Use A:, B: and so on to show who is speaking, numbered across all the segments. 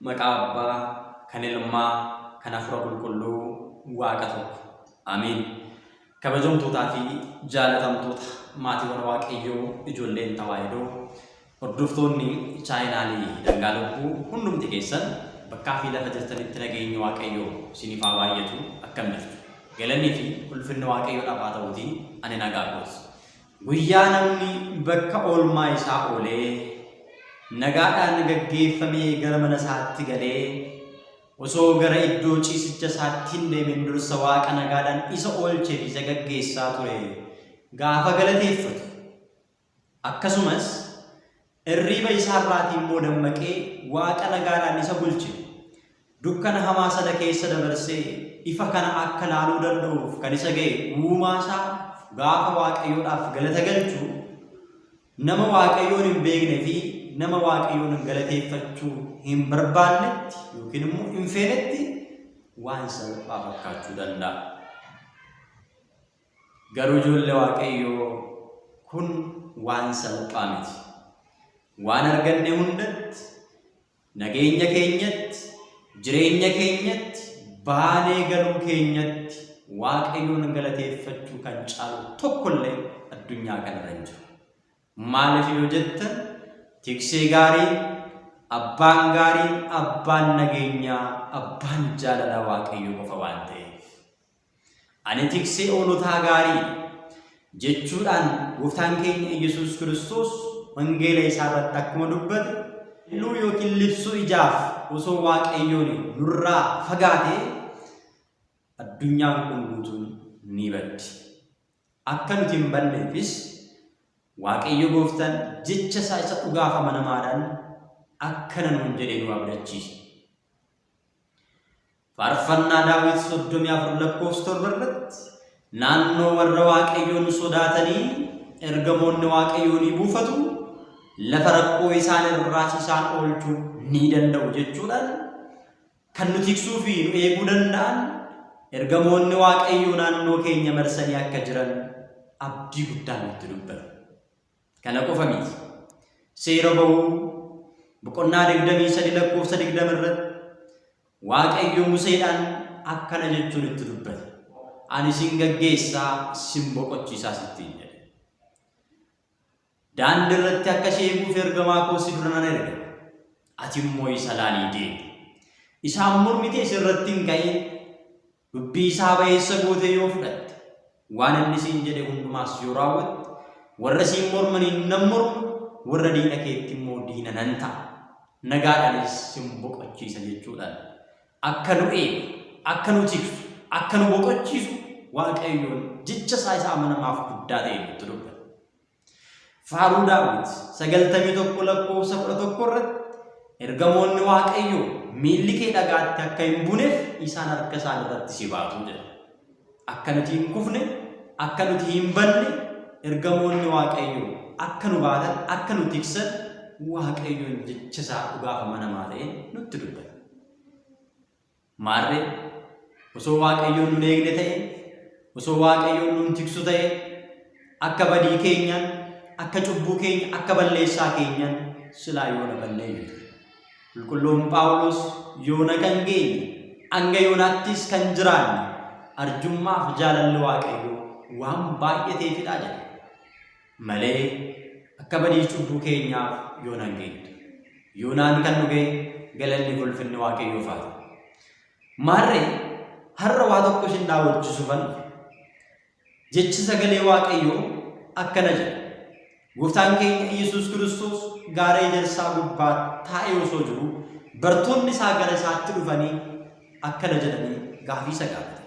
A: Maqaa Abbaa, kan Ilmaa, kan Hafuura Qulqulluu, Waaqa tokko. Ameen. Kabajamtootaa fi jaalatamtoota maatiiwwan Waaqayyoo ijoolleen Tawaahidoo, Hordoftoonni chaayinaalii Dhangaa Lubbuu hundumti keessan bakkaa fi lafa jirtanitti nageenyi Waaqayyoo siiniif haa baay'atu akkam jirtu? Galanni fi ulfinni Waaqayyoodhaaf haa ta'uutii ani nagaa kooti. Guyyaa namni bakka oolmaa isaa oolee nagaadhaan gaggeeffamee gara mana isaatti galee osoo gara iddoo ciisicha isaatti hin deemin dursa Waaqa nagaadhaan isa oolchee fi isa gaggeessaa ture gaafa galateeffatu Akkasumas, irriiba isaa irraatii immoo dammaqee Waaqa nagaadhaan isa bulche, dukkana hamaa sana keessa dabarsee ifa kana akka laaluu danda'uuf kan isa ga'e uumaa isaa gaafa Waaqayyoodhaaf galata galchu, nama Waaqayyoon hin beekne fi nama Waaqayyoon galateeffachuu hin barbaannetti yookiin immoo hin feenetti waan salphaa fakkaachuu danda'a. Garuu ijoolle Waaqayyoo kun waan salphaa miti. Waan arganne hundatti, nageenya keenyatti, jireenya keenyatti, baanee galuu keenyatti Waaqayyoon galateeffachuu kan caalu tokko illee addunyaa kanarra hin jiru. Maaliif yoo jettan tiksee gaariin, abbaan gaariin, abbaan nageenyaa, abbaan jaalalaa Waaqayyoo qofa waan ta'eef. Ani tiksee hoolotaa gaarii dha. jechuudhaan Gooftaan keenya Iyyasuus Kiristoos wangeela isaa irratti akkuma dubbate lalluu yookiin libsuu ijaaf osoo Waaqayyoon nurraa fagaatee addunyaan kun guutuun ni baddi. Akka nuti hin banneefis Waaqayyo Gooftaan jecha isaa isa dhugaaf amanamaadhaan akkana nuun jedhee nu abdachiisa. Faarfannaa Daawit 34 lakkoofsa 7 irratti naannoo warra Waaqayyoon sodaatanii ergamoonni Waaqayyoo ni buufatu, lafa rakkoo isaan irraas isaan oolchuu ni danda'u jechuudhaan kan nu tiksuu fi nu eeguu danda'an ergamoonni Waaqayyoo naannoo keenya marsanii akka jiran abdii guddaan nutti dubbata. Kana qofa miti. Seera Ba'uu boqonnaa 23 lakkoofsa 20 irratti Waaqayyo Museedhaan akkana jechuun itti dubbate. Ani sin gaggeessaa sin boqochiisaas ittiin jedhe. Daandii irratti akka si eeguuf ergamaa koo si dura nan erga. Ati immoo isa laalii deemi. Isaan mormitee si irratti hin ka'in. Dubbii isaa ba'eessa gootee yoo fudhatte, waan inni siin jedhe hundumaas yoo raawwatte, warra siin mormaniin nan morma, warra diina keetti immoo diina nan ta'a, nagaadhaanis sin boqochiisa jechuudhaan akka nu eegu, akka nu tiksu, akka nu boqochiisu Waaqayyoon jecha isaa isa amanamaaf guddaa ta'e nutti dubbata. Faaruu Daawit 91 lakkoofsa 11 irratti ergamoonni Waaqayyoo miilli kee dhagaatti akka hin buneef isaan harka isaan irratti si baatu jedha. Akka nuti hin kufne, akka nuti hin banne ergamoonni Waaqayyoo akka nu baatan, akka nu tiksan Waaqayyoon jecha isaa dhugaaf amanamaa ta'e nutti dubbata. Maarree, osoo Waaqayyoon nun eegne ta'ee, osoo Waaqayyoon nun tiksu ta'ee, akka badii keenyaan, akka cubbuu keenya, akka balleessaa keenyaan silaa yoona balleeyyu ture. Qulqulluun Phaawulos yoona kan geenye, hanga yoonaattis kan jiraanne arjummaaf jaalalli Waaqayyoo waan baay'ateefidha jedha. malee akka badii cubbuu keenyaaf yoonaan geenyudha. Yoonaan kan dhugee galanni fi ulfinni waaqayyoof haa ta'u. Maarree har'a waa tokko isin daawwachiisuufan jechi sagalee waaqayyoo akkana jedha. Gooftaan keenya Iyyasuus Kiristoos gaara ejersaa gubbaa taa'ee osoo jiru bartoonni isaa gara isaatti dhufanii akkana jedhanii gaafii isa gaafatan.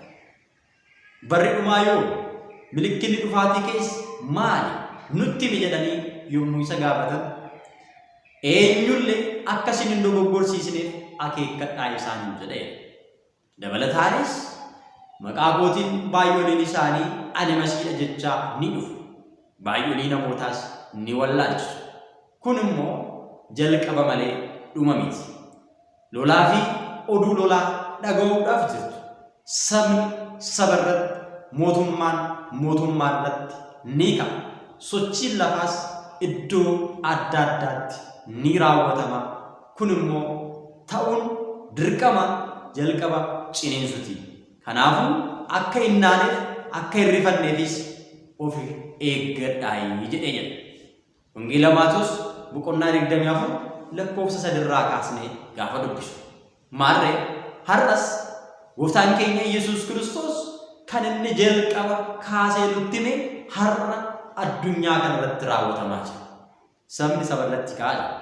A: Barri dhumaa yoomi? Milikkinni dhufaatii kees maali? Nutti himi jedhanii yommuu isa gaafatan, eenyulle akka isin hin dogoggorsiisneef akeekkadhaa isaaniin jedheera. Dabalataanis, maqaa kootiin baay'oliin isaanii ani Masiidha jechaa ni dhufu. Baay'olii namootaas ni wallaalchisu. Kun immoo jalqaba malee dhuma miti. Lolaa fi oduu lolaa dhaga'uudhaaf jirtu. Sabni saba irratti, mootummaan mootummaa irratti ni ka'a. Sochiin lafaas iddoo adda addaatti ni raawwatama. Kun immoo ta'uun dirqama jalqaba ciniinsuti. Kanaafuu akka hin naaneef, akka hin rifanneefis of eeggadhaayi jedhee jedha. Wangeela Maatewos boqonnaa 24 lakkoofsa 3 irraa kaasnee gaafa dubbisu. Maarree har'as gooftaan keenya Yesuus Kiristoos kan inni jalqaba kaasee nutti hime har'a addunyaa kana irratti raawwatamaa jira. Sabni saba irratti ka'aa jira.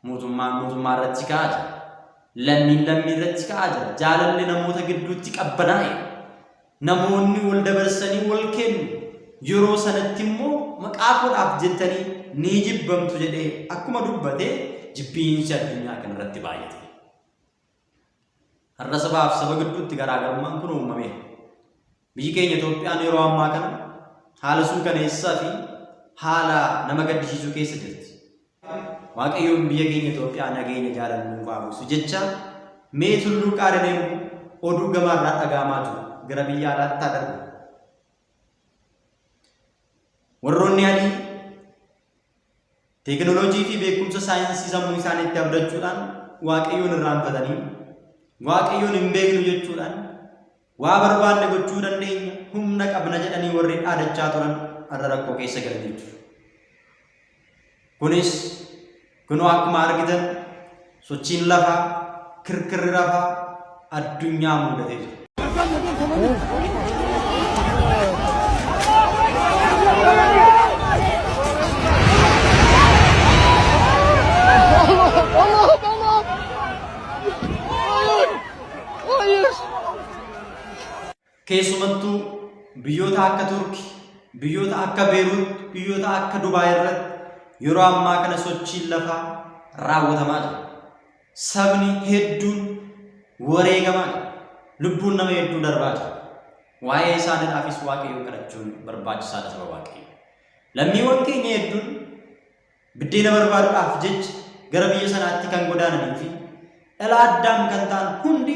A: Mootummaan mootummaa irratti ka'aa jira. Lammiin lammii irratti ka'aa jira. Jaalalli namoota gidduutti qabbanaa'e. Namoonni wal dabarsanii wal kennu, yeroo sanatti immoo maqaa koodhaaf jettanii ni jibbamtu jedhee akkuma dubbate jibbiinsi addunyaa kanarratti baay'ate. Har'a sabaaf saba gidduutti garaagarummaan kun uumameera. Biyyi keenya Itoophiyaan yeroo ammaa kana haala suukaneessaa fi haala nama gaddisiisuu keessa jirti. Waaqayyoon biyya keenya Itoophiyaa nageenya jaalala nuuf haa buusu jechaa mee tulluu qaarilee immoo oduu gamaa irraa dhaga'amaa jiru gara biyya alaatti haa darbu. Warroonni adii teekinooloojii fi beekumsa saayinsii sammuu isaaniitti abdachuudhaan waaqayyoon irraanfatanii waaqayyoon hin beeknu jechuudhaan Waa barbaanne gochuu dandeenya, humna qabna jedhanii warri dhaadachaa turan har'a rakkoo keessa galanii jiru. Kunis kunoo akkuma argitan sochiin lafaa kirkirri lafaa addunyaa muudatee jira. Keessumattuu biyyoota akka Turki, biyyoota akka Beeruut, biyyoota akka Dubaay irratti yeroo ammaa kana sochiin lafaa raawwatamaa jira. Sabni hedduun wareegamaa jira. Lubbuun nama hedduu darbaa jira. Waa'ee isaaniidhaafis Waaqayyoon kadhachuun barbaachisaadha saba Waaqayyo. Lammiiwwan keenya hedduun Biddeena barbaaduudhaaf jecha gara biyya sanaatti kan godaananii fi dhala Addaam kan ta'an hundi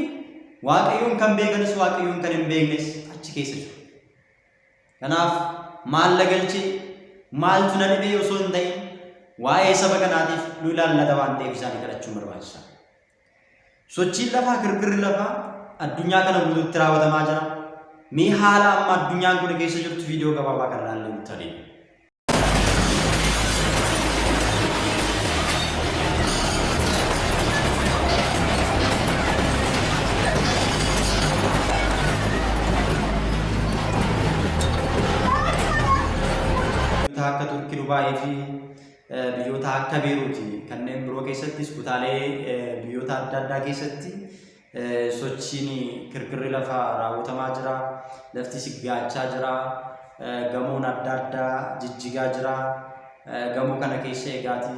A: Waaqayyoon kan beekanis Waaqayyoon kan hin beeknes achi keessa jiru. Kanaaf maal na galchee maaltu na dhibee osoo hin ta'in waa'ee saba kanaatiif nu ilaallata waan ta'eef isaanii kadhachuun barbaachisa. Sochiin lafaa kirkirri lafaa addunyaa kana guutuutti raawwatamaa jira. Mee haala amma addunyaan kun keessa jirtu viidiyoo gabaabaa kan ilaallee nutti adeemu. biyyoota akka Turki Dubaayii fi eh, biyyoota akka Beeruuti kanneen biroo keessattis kutaalee eh, biyyoota adda addaa keessatti Sochiin kirkirri lafaa raawwatamaa jira. Lafti siggaachaa jira. Gamoon adda addaa jijjigaa jira. Gamoo kana keessa egaati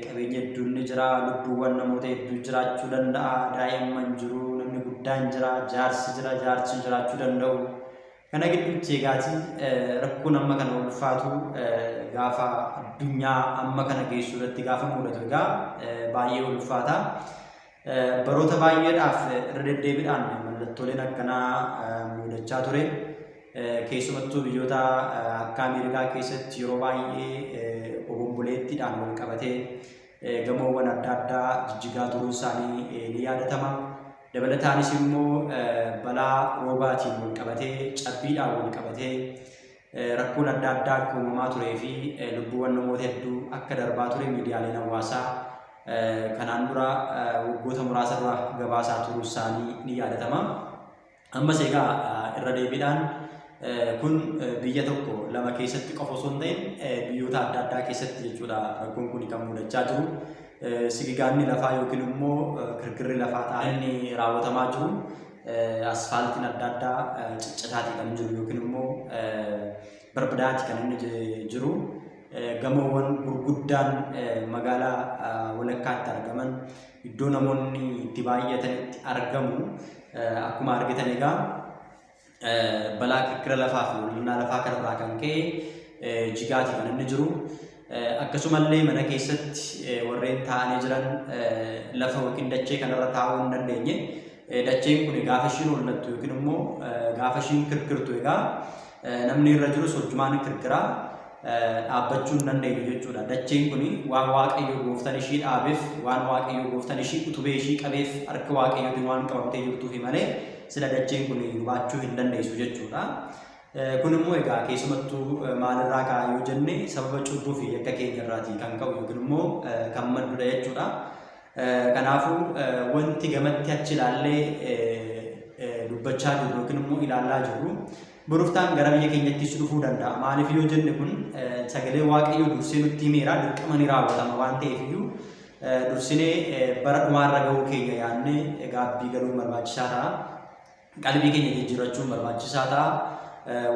A: qabeenya hedduun ni jira. Lubbuuwwan namoota hedduu jiraachuu danda'a. Daa'imman jiru, namni guddaan jira, jaarsi jira, jaarsi jiraachuu danda'u. Kana gidduutti egaati rakkoon amma kana ulfaatu gaafa addunyaa amma kana geessu irratti gaafa mudatu egaa baay'ee ulfaata. Baroota baay'eedhaaf irra deddeebiidhaan mallattooleen akkanaa mudachaa ture. Keessumattuu biyyoota akka Ameerikaa keessatti yeroo baay'ee obomboleettiidhaan wal qabatee gamoowwan adda addaa jijjigaa turuun isaanii ni yaadatama. Dabalataanis immoo balaa roobaatiin wal qabatee cabbiidhaan wal qabatee Rakkoon adda addaa akka uumamaa turee fi lubbuuwwan namoota hedduu akka darbaa ture miidiyaaleen hawaasaa kanaan dura waggoota muraasa dura gabaasaa turuu isaanii ni yaadatama. Ammas egaa irra deebiidhaan kun biyya tokko lama keessatti qofa osoo hin ta'in biyyoota adda addaa keessatti jechuudha rakkoon kun kan mudachaa jiru. Sigigaanni lafaa yookiin immoo kirkirri lafaa ta'an inni raawwatamaa jiru. asfaaltiin adda addaa ciccitaati kan jiru yookiin immoo barbadaati kan inni jiru. Gamoowwan gurguddaan magaalaa walakkaatti argaman iddoo namoonni itti baay'atanitti argamu. Akkuma argitan egaa balaa kirkira lafaa fi mul'inaa lafaa kanarraa kan ka'e jigaati kan inni jiru. Akkasumallee mana keessatti warreen taa'anii jiran lafa yookiin dachee kanarra taa'uu hin dandeenye. Dacheen kun gaafa ishiin hollattu yookiin immoo gaafa ishiin kirkirtu egaa namni irra jirus hojjumaan kirkiraa dhaabbachuu hin dandeenyu jechuudha. Dacheen kun waan waaqayyo gooftan ishii dhaabeef, waan waaqayyo gooftan ishii utubee ishii qabeef harka waaqayyootiin waan qabamtee jirtuufi malee sila dacheen kun gubaachuu hin dandeessu jechuudha. Kun immoo egaa keessumattuu maalirraa ka'a yoo jenne sababa cubbuu fi yakka keenya irraatii kan ka'u yookiin immoo kan maddudha jechuudha. Kanaafuu wanti gamatti achi ilaallee dubbachaa jirru yookiin immoo ilaalaa jirru boroftaan gara biyya keenyattis dhufuu danda'a. Maaliif yoo jenne kun sagalee waaqayyoo dursee nutti himeera dirqama ni raawwatama waan ta'eef iyyuu dursinee bara dhumaarra ga'uu keenya yaadnee gaabbii galuun barbaachisaa ta'a. Qalbii keenya jijjiirrachuun barbaachisaa ta'a.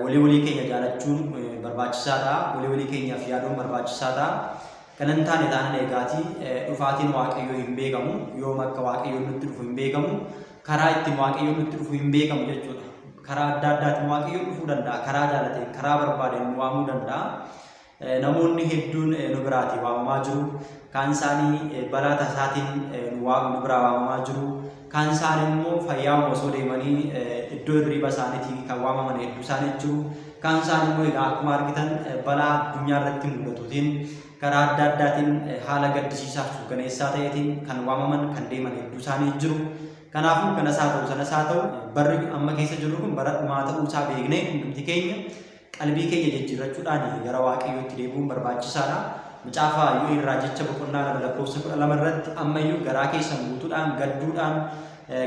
A: Walii walii keenya jaalachuun barbaachisaa ta'a. Walii walii keenyaaf yaaduun barbaachisaa ta'a. Kana hin taane taanaan eegaatii dhufaatiin Waaqayyoo hin beekamu. Yoom akka Waaqayyoon nutti dhufu hin beekamu. Karaa ittiin Waaqayyoon nutti dhufu hin beekamu jechuudha. Karaa adda addaatiin Waaqayyoon dhufuu danda'a. Karaa jaalateen, karaa barbaadeen nu waamuu danda'a. Namoonni hedduun nu biraatii waamamaa jiru. Kaan isaanii balaa tasaatiin nu waam- nu biraa waamamaa jiru. Kaan isaanii immoo fayyaama osoo deemanii iddoo hirriiba isaaniitii kan waamaman hedduu isaanii jiru. Kaan isaanii immoo egaa akkuma argitan balaa addunyaa irratti mul'atuutiin karaa adda addaatiin haala gaddisiisaa fi suukaneessaa ta'eetiin kan waamaman kan deeman hedduu isaanii jiru. Kanaafuu kanas haa ta'u sanas haa ta'u barri amma keessa jirru kun bara dhumaa ta'uu isaa beeknee hundumti keenya Qalbii keenya jijjiirrachuudhaan gara Waaqayyootti deebi'uun barbaachisaadha. Macaafa Yo'el raajicha boqonnaa 2 lakkoofsa 12 irratti ammayyuu garaa keessan guutuudhaan gadduudhaan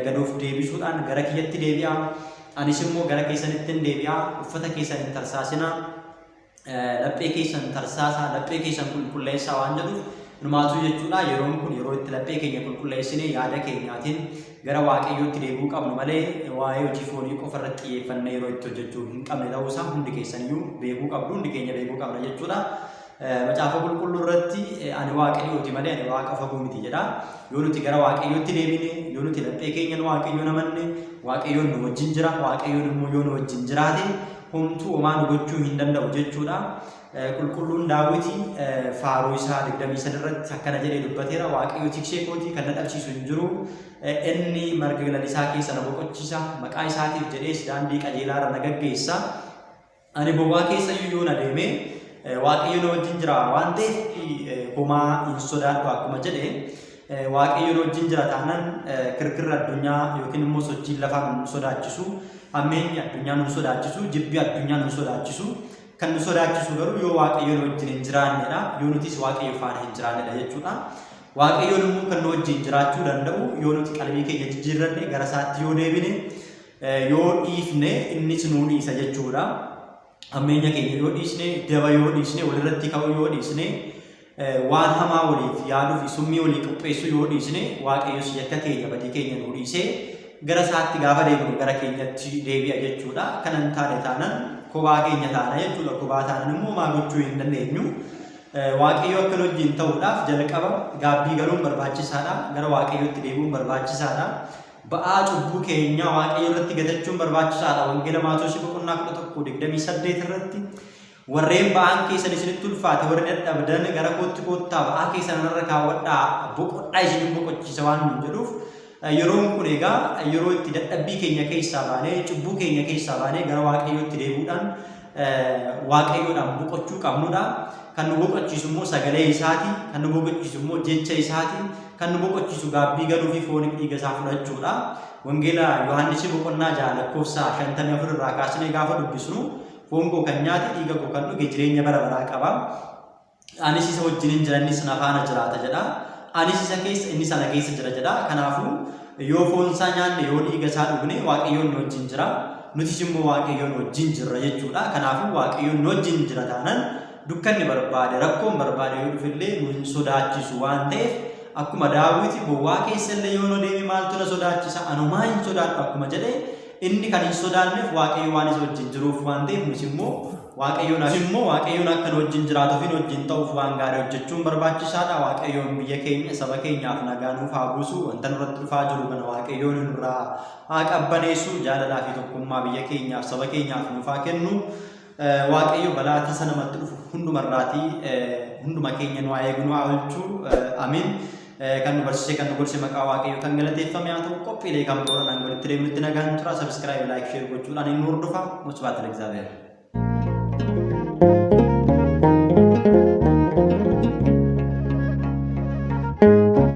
A: gad of deebisuudhaan gara kiyyatti deebi'aa anis immoo gara keessanittin deebi'aa uffata keessan hin tarsaasinaa laphee keessan tarsaasaa laphee keessan qulqulleessaa waan jedhuuf Numaatu jechuudha yeroon kun yeroo itti laphee keenya qulqulleessine yaada keenyaatiin Gara Waaqayyootti deebi'uu qabna malee waa'ee hojii foonii qofa irratti xiyyeeffannee yeroo itti hojjechuu hin qabne ta'uu isaa hundi keessan iyyuu beekuu qabdu, hundi keenya beekuu qabna jechuudha. Macaafa qulqulluu irratti ani Waaqayyooti malee ani waaqa fagoo miti jedha. Yoo nuti gara Waaqayyootti deebine, yoo nuti laphee keenyan Waaqayyoon amanne, Waaqayyoon nu wajjin jira, Waaqayyoon immoo yoo nu wajjin jiraate homtuu homaa nu gochuu hin danda'u jechuudha. Qulqulluun Daawiti faaruu isaa 23 irratti akkana jedhee dubbateera. Waaqayyo tiksee kootii kan na dhabsiisu hin jiru. Inni marga lalisaa keessa na boqochiisa. Maqaa isaatiif jedhees daandii qajeelaa irra na gaggeessa. Ani bobaa keessa iyyuu yoo na deeme Waaqayyo na wajjin jira waan ta'eef homaa hin sodaadhu akkuma jedhe Waaqayyo na wajjin jira taanaan kirkirri addunyaa yookiin immoo sochiin lafaa nu sodaachisu, hammeenyi addunyaa nu sodaachisu, jibbi addunyaa nu sodaachisu. Kan nu sodaachisu garuu yoo Waaqayyo nu wajjin hin jiraannedha. Yoo nutis Waaqayyo faana hin jiraannedha jechuudha. Waaqayyoon immoo kan nu wajjin jiraachuu danda'u yoo nuti qalbii keenya jijjiirranne gara isaatti yoo deebine yoo dhiifne innis nu dhiisa jechuudha. Hammeenya keenya yoo dhiisne, daba yoo dhiisne, walirratti ka'uu yoo dhiisne Waan hamaa waliif yaaduu fi summii walii qopheessuu yoo dhiisne, Waaqayyos yakka keenya, badii keenya nuu dhiisee gara isaatti gaafa deebinu gara keenyatti deebi'a jechuudha. Kana hin taane taanaan kophaa keenya taana jechuudha. Kophaa taanaan immoo homaa gochuu hin dandeenyu. Waaqayyo akka nu wajjin ta'uudhaaf jalqaba gaabbii galuun barbaachisaadha. Gara Waaqayyootti deebi'uun barbaachisaadha. Ba'aa cubbuu keenyaa Waaqayyo irratti gatachuun barbaachisaadha. Wangeela Maatewos boqonnaa 11:28 irratti Warreen ba'aan keessan isinitti ulfaate, warri dadhabdan gara kootti koottaa ba'aa keessan anarra kaawwadhaa boqodhaa isinin boqochiisa waan nuun jedhuuf yeroon kun egaa yeroo itti dadhabbii keenya keessaa baanee cubbuu keenya keessaa baanee gara waaqayyootti deebi'uudhaan waaqayyoodhaan boqochuu qabnudha. Kan nu boqochiisu immoo sagalee isaati, kan nu boqochiisu immoo jecha isaati, kan nu boqochiisu gaabbii galuu fi fooniif dhiiga isaa fudhachuudha. Wangeela Yohaannis boqonnaa ja'a lakkoofsa shantamii afur irraa kaasnee gaafa dubbisnu Foon koo kan nyaate, dhiiga koo kan dhuge jireenya bara baraa qaba. Anis isa wajjinin jira, innis na faana jiraata jedha. Anis isa keessa, innis ana keessa jira jedha. Kanaafuu yoo foon isaa nyaanne, yoo dhiiga isaa dhugne Waaqayyoon nu wajjin jira. Nutis immoo Waaqayyoon wajjin jirra jechuudha. Kanaafuu Waaqayyoon nu wajjin jira taanan dukkanni barbaade, rakkoon barbaade yoo dhufellee nu hin sodaachisu waan ta'eef akkuma daawwiti bowwaa keessallee yoo nu deeme maaltu na sodaachisa anumaa hin sodaadhu akkuma jedhe Inni kan hin sodaanneef Waaqayyo waan isa wajjin jiruuf waan ta'eef nus immoo Waaqayyoon as immoo Waaqayyoon akka nu wajjin jiraatuuf hin wajjin ta'uuf waan gaarii hojjechuun barbaachisaadha. Waaqayyoon biyya keenya saba keenyaaf nagaa nuuf haa buusu. Wanta nurratti dhufaa jiru kana Waaqayyoon nurraa haa qabbaneessu. Jaalalaa fi tokkummaa biyya keenyaaf saba keenyaaf nuuf haa kennu. Waaqayyo balaa tasa namatti dhufu hunduma irraatii hunduma keenya nu haa eegu nu haa oolchu ameen. Kan nu barsiisee kan nu gorse maqaa waaqayyo kan galateeffame haa ta'u qophiilee kan biroo dhaan walitti deemnutti nagaan tura sabiskiraayib laayik sheer gochuudhaan inni hordofa musbaata legzaabeera.